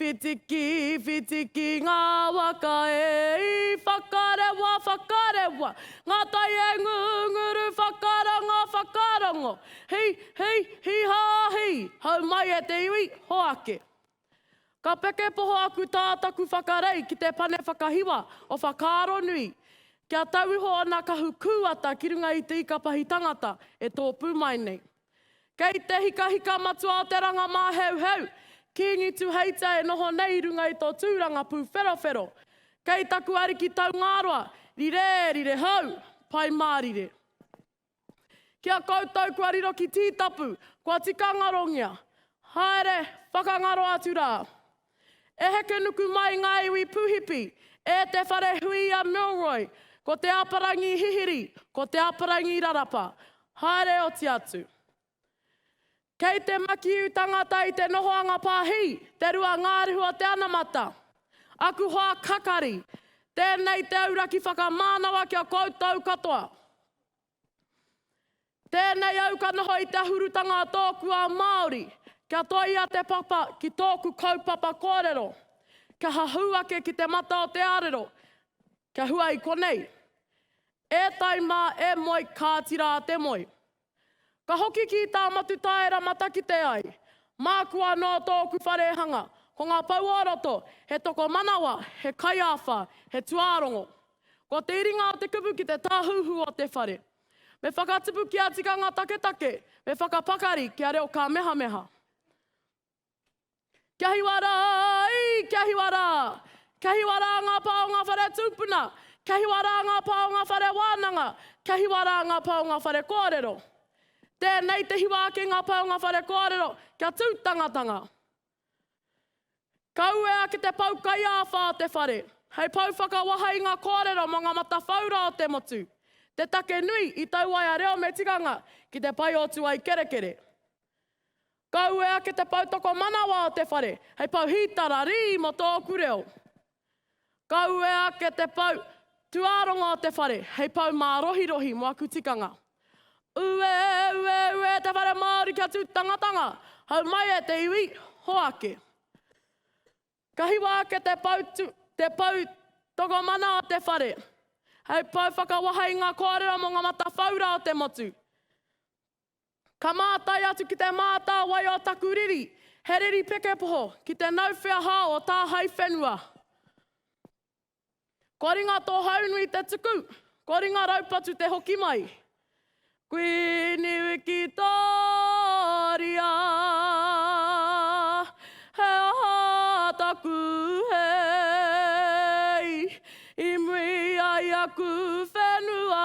Whitiki, whitiki ngā waka e i whakarewa, whakarewa Ngā tai e ngunguru, whakarongo, whakarongo Hi, hi, hi hā hi, hau mai e te iwi, hoake Ka peke poho aku tā taku whakarei ki te pane whakahiwa o Whakaaronui Kia tau iho ōna kahu kūata ki runga i te ika pahi tangata e tōpū mai nei. Kei te hikahika matua o te ranga māheuheu, Kīngi Tuheita e noho nei i runga i tō tūranga pūwherowhero. Kei taku ariki Taungāroa, rire, rire hou, Pai Mārire. Ki a koutou kua riro ki Tītapu, kua tika ngarongia. Haere, whakangaro atu rā. E heke nuku mai ngā iwi Puhipi e te whare hui a Milroy, ko te Aparangi Hihiri, ko te Aparangi Rarapa, haere oti atu. Kei te makiu tangata i te nohoanga pāhi, te rua ngārihu o te anamata. Aku hoa kakari, tēnei te auraki whakamānawa ki a koutou katoa. Tēnei au ka noho i te ahurutanga a tōku ao Māori, kia toia te papa ki tōku kaupapa kōrero, kia hahū ake ki te mata o te arero, kia hua i konei. E tai mā, e moe, kāti rā te moe. Ka hoki ki tā Matutaera matakite ai, māku anō tōku wharehanga, ko ngā pou o roto, he tokomanawa, he kaiāwha, he tuārongo. Kua te iringa o te kupu ki te tāhuhu o te whare. Me whakatupu kia tikanga taketake, me whakapakari kia reo kāmehameha. Kia hiwa rā, ī, kia hiwa rā! Kia hiwa rā ngā pā o ngā whare tūpuna! Kia hiwa rā ngā pā o ngā whare wānanga! Kia hiwa rā ngā pā o ngā whare kōrero! Tēnei te hiwa ake ngā pā o ngā whare kōrero, kia tūtangatanga! Ka uea ki te pou kaiāwha o te whare, hei pou whakawahei i nga koarero mo nga matawhaura o te motu, te take nui i tau waea reo me tikanga ki te pai o tuai kerekere. Ka uea ki te pou tokomanawa o te whare, hei pou hītara rī mo tōku reo. Ka uea ake te pou tuaronga o te whare hei pou mārohirohi mo aku tikanga. Ue, ue, ue te whare Māori kia tu tangatanga, hau mai e te iwi, hoake. Ka hiwa ake te pou tu, te pou tokomana o te whare, hei pou whakawahai i nga koarero mo nga matawhaura o te motu. Ka mātai atu ki te mātāwai o taku riri, he riri pekepoho, ki te nau wheahā o tā hai whenua. Kua ringa tō haunui te tuku, kua ringa raupatu te hoki mai. Kuini Wikitōria, he aha taku hei, i mui ai aku whenua,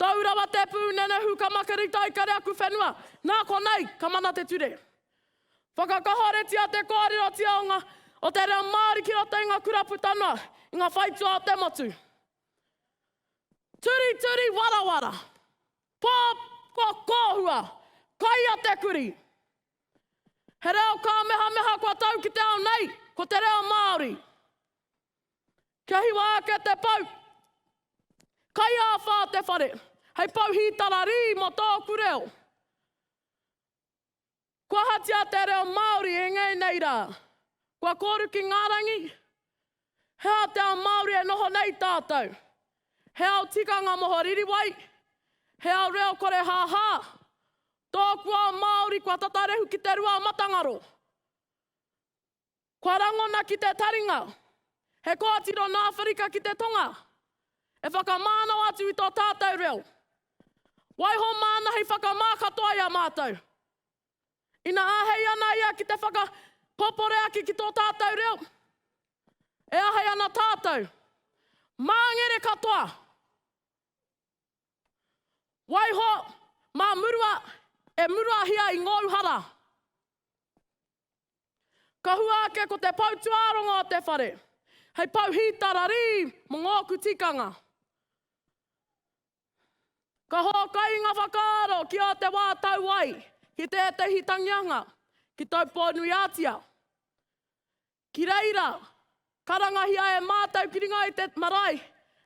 Tau rawa te pū nenehu ka makarita i kare aku whenua, nā konei ka mana te ture. Whakakahoretia te kōrerotia o ngā o te reo Māori ki roto i ngā kura puta noa i ngā whaitua o te motu. Turituri warawara, pō kua kōhua, kai a te kuri. He reo kāmehameha kua tau ki te ao nei, ko te reo Māori. Kia hiwa ake te pou! Kaiāwhā te whare, hei pou hītara rī mō tōku reo. Kua ahatia te reo Māori e ngei nei rā? Kua kōru ki ngā rangi? He aha te ao Māori e noho nei tātou? He ao tikanga moho ririwai? He ao reo kore hāhā? Tōku ao Māori kua tata rehu ki te rua matangaro. Kua rangona ki te taringa. He koatiro nā Awherika ki te Tonga, e whakamānao atu i tō tātou reo. Waiho māna hei whakamā katoa i a mātou. Ina āhei ana ia ki te whakakōporeaki ki tō tātou reo, e āhei ana tātou. Māngere katoa! Waiho, mā murua, e muruahia i ngōu hara. Ka hua ake ko te pou tuarongo o te whare, hei pou hītara rī mo ngōku tikanga. Ka hōkai nga whakaaro ki ō te wā tau ai ki tētehi tangianga ki Taupō-nui-ā-tia. Ki reira, karangahia e mātou ki ringa i te marae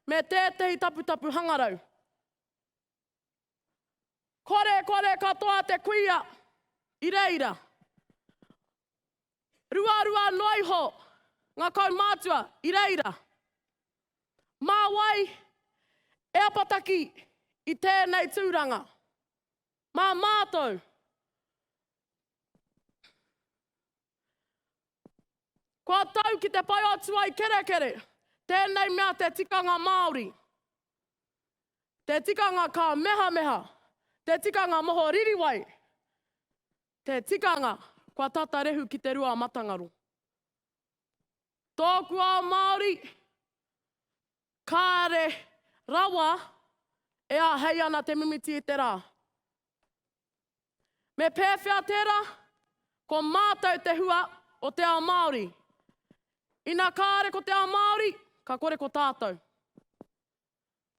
me tētehi taputapu hangarau. Kore, kore katoa te kuia i reira. Ruarua noa iho nga kaumātua i reira. Mā wai e apataki i tēnei tūranga? Mā mātou. Kua tau ki te whai o Tuaikerekere tēnei mea te tikanga Māori. te tikanga ka mehameha, te tikanga moho ririwai, te tikanga kua tata rehu ki te rua matangaro. Tōku ao Māori, kāre rawa e āhei ana te mimiti i te rā. Me pēwhea tērā? Ko mātou te hua o te ao Māori. Ina kāre ko te ao Māori, ka kore ko tātou.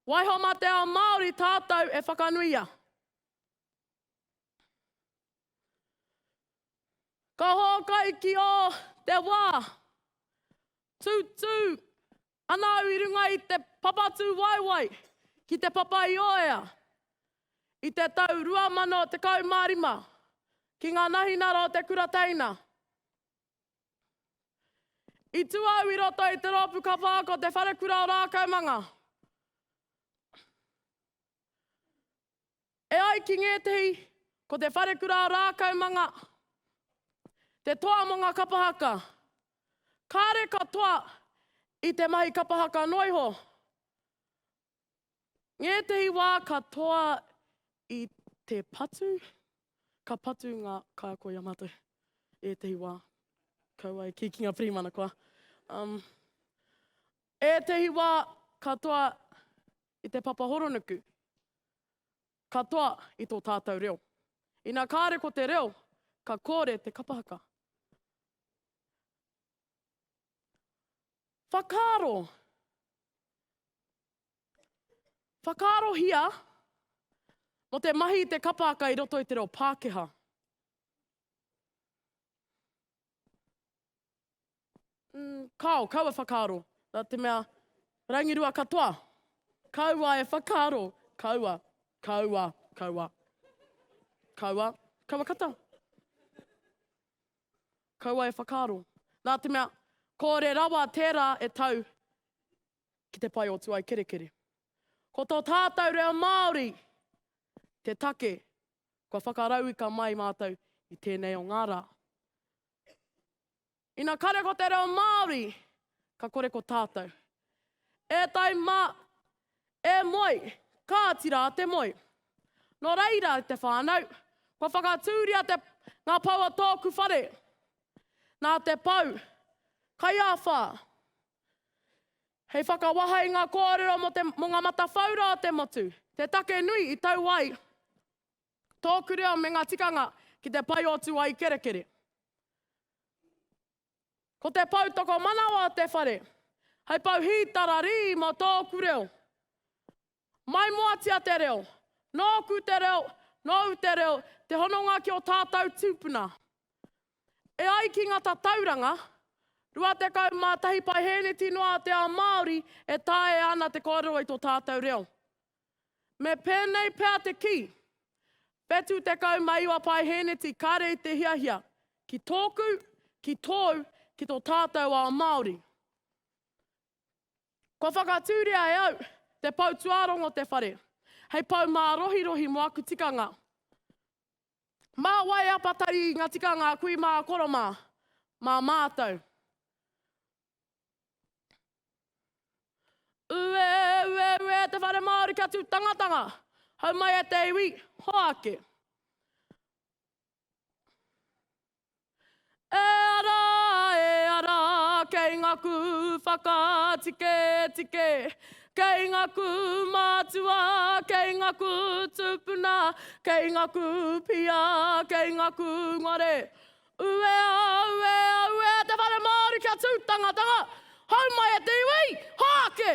Waiho mā te ao Māori tātou e whakanuia. Ka hōkai ki ō te wā. Tūtū ana au i runga i te papatūwaewae ki Te Papa-i-ōea i te tau 2015 ki ngā nahinara o te kura teina. I tu au i roto i te roopu kapa ko Te Wharekura o Raakaumanga. E ai ki ngētehi, ko Te Wharekura o Raakaumanga te toa mo nga kapa haka. Kare katoa i te mahi kapa haka noiho, Ngētehi wā ka toa i te patu, ka patu ngā kaiako i a mātou. Ētehi wā, kaua e kī ki ngā pirimana koa. Um, ētehi wā ka toa i te papa horonuku, ka toa i tō tātou reo. Ina kāre ko te reo, ka kōre te kapahaka. Whakaaro Whakaarohia mō te mahi i te kapaaka i roto i te reo Pākehā. Mm, kao, kau e whakaaro. Nā te mea, rangirua katoa. Kaua e whakaaro. Kaua, kaua, kaua. Kaua, kaua kata. kaua e whakaaro, nā te mea, kore rawa tērā e tau ki te pae o Tuaikerekere. Ko tō tātou reo Māori te take kua whakarauika mai mātou i tēnei o ngā rā. Ina kare ko te reo Māori, ka kore ko tātou. E tai mā, E moe! Kāti rā te moe. Nō reira, te whānau, kua whakatūria te, ngā pou o tōku whare. Nā te pou, kaiāwhā, hei whakawaha i ngā kōrero mō te, mō ngā matawhaura o te motu, te take nui i tau ai tōku reo me ngā tikanga ki te paiotu ai kerekere. Ko te pou tokomanawa o te whare, hei pou hītara rī mō tōku reo. Maimoatia te reo, nōku te reo, nōu te reo, te hononga ki ō tātou tūpuna. E ai ki ngā tatauranga, 21 paeheneti noa o te ao Māori e taea ana te kōrero i tō tātou reo. Me pēnei pea te kī, 79 paehēneti kāre i te hiahia, ki tōku, ki tōu, ki tō tātou ao Māori. Kua whakatūria e au te pou tuārongo te whare, hei pou mārohirohi mō aku tikanga. Mā wai e apatari i ngā tikanga a kui mā koro mā, mā mātou. Ue, ue, ue te whare Māori kia tū tangatanga, hau mai e te iwi, hoake. E ara, e ara, kei ngaku whakatike, tike, kei ngaku mātua, kei ngaku tūpuna, kei ngaku pia, kei ngaku ngare, Uea, uea, uea te whare Māori kia tū tangatanga! Hau mai e te iwi! Haake!